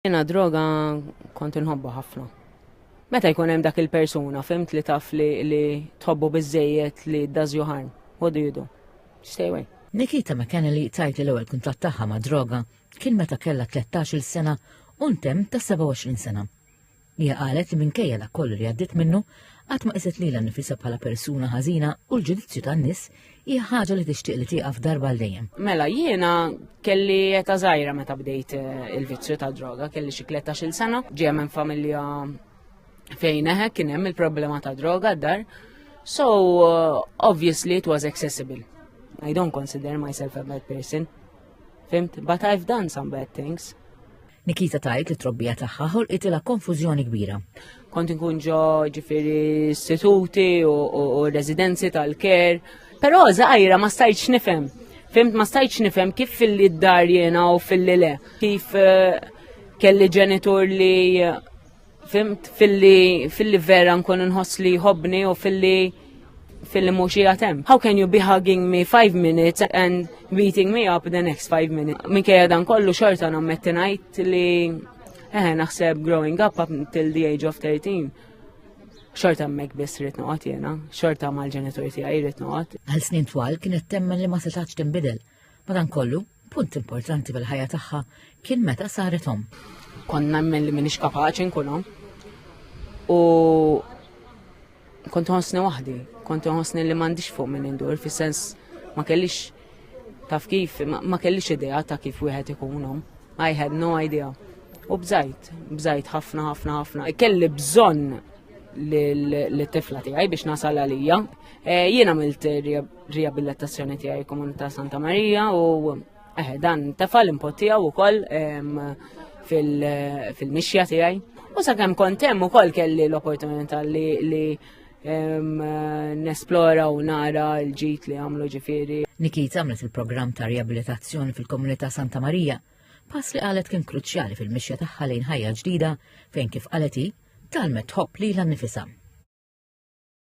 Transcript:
Jena droga kont inħobba ħafna. Meta jkun hemm dak il-persuna, fimt li taf li, li tħobbu biżejjed li does you harm. What do you do? Stay away. Nikita McKennelly tajt li l-ewwel kuntatt tagħha ma' droga kien meta kellha 13-il sena u ntem ta' 27 sena. Hija qalet li minkejja dak kollu li għaddiet minnu, qatt ma qiset lilha nnifisha bħala persuna ħażina u l-ġudizzju tan-nies hija ħaġa li tixtieq li tieqaf darba għal dejjem. Mela jiena kelli eta żgħira meta bdejt eh, il-vizzju ta' droga, kelli xi 13-il sena, ġie minn familja fejn eħe kien hemm il-problema ta' droga d-dar. So, uh, obviously it was accessible. I don't consider myself a bad person. Fimt, but I've done some bad things. Nikita tgħid li t-trobbija tagħha ħolqitilha konfużjoni kbira. Kont inkun ġo ġifieri istituti u residenzi tal-ker, però żgħira ma stajtx nifhem. Fimt ma stajtx nifhem kif fil-li d-dar jiena u fil-li le. Kif eh, kelli ġenitur li Fimt filli filli vera nkun nħoss li jħobbni u filli filli mhux jatem. How can you be hugging me five minutes and beating me up the next five minutes? Minkejja dan kollu xorta nammetti ngħid li eh naħseb growing up up until the age of 13 xorta mek biss rrit noqgħod jiena, xorta mal-ġenitur tiegħi rrit noqgħod. Għal snin twal kienet temmen li ma setax tinbidel. Madankollu, Punt importanti fil-ħajja tagħha kien meta saret omm. Kont nemmen li minix kapaċi nkun omm. U kont ħossni waħdi, kont ħossni li m'għandix fuq minn indur, fis-sens ma kellix taf kif, ma kellix idea ta' kif wieħed ikun omm. I had no idea. U bżajt, bżajt ħafna, ħafna, ħafna. Kelli bżonn l-tifla tiegħi biex nasal għalija. Eh, Jiena milt riabilitazzjoni tiegħi komunità Santa Marija u eh, dan tefal impot tiegħu wkoll fil-mixja tiegħi. U sakemm kont hemm ukoll kelli l-opportunità li, li nesplora u nara l-ġit li għamlu ġifiri. Nikit għamlet il-programm ta' riabilitazzjoni fil-komunità Santa Marija, pass li qalet kien kruċjali fil-mixja tagħha lejn ħajja ġdida fejn kif qalet hi talmet tħobb li l-nifisam.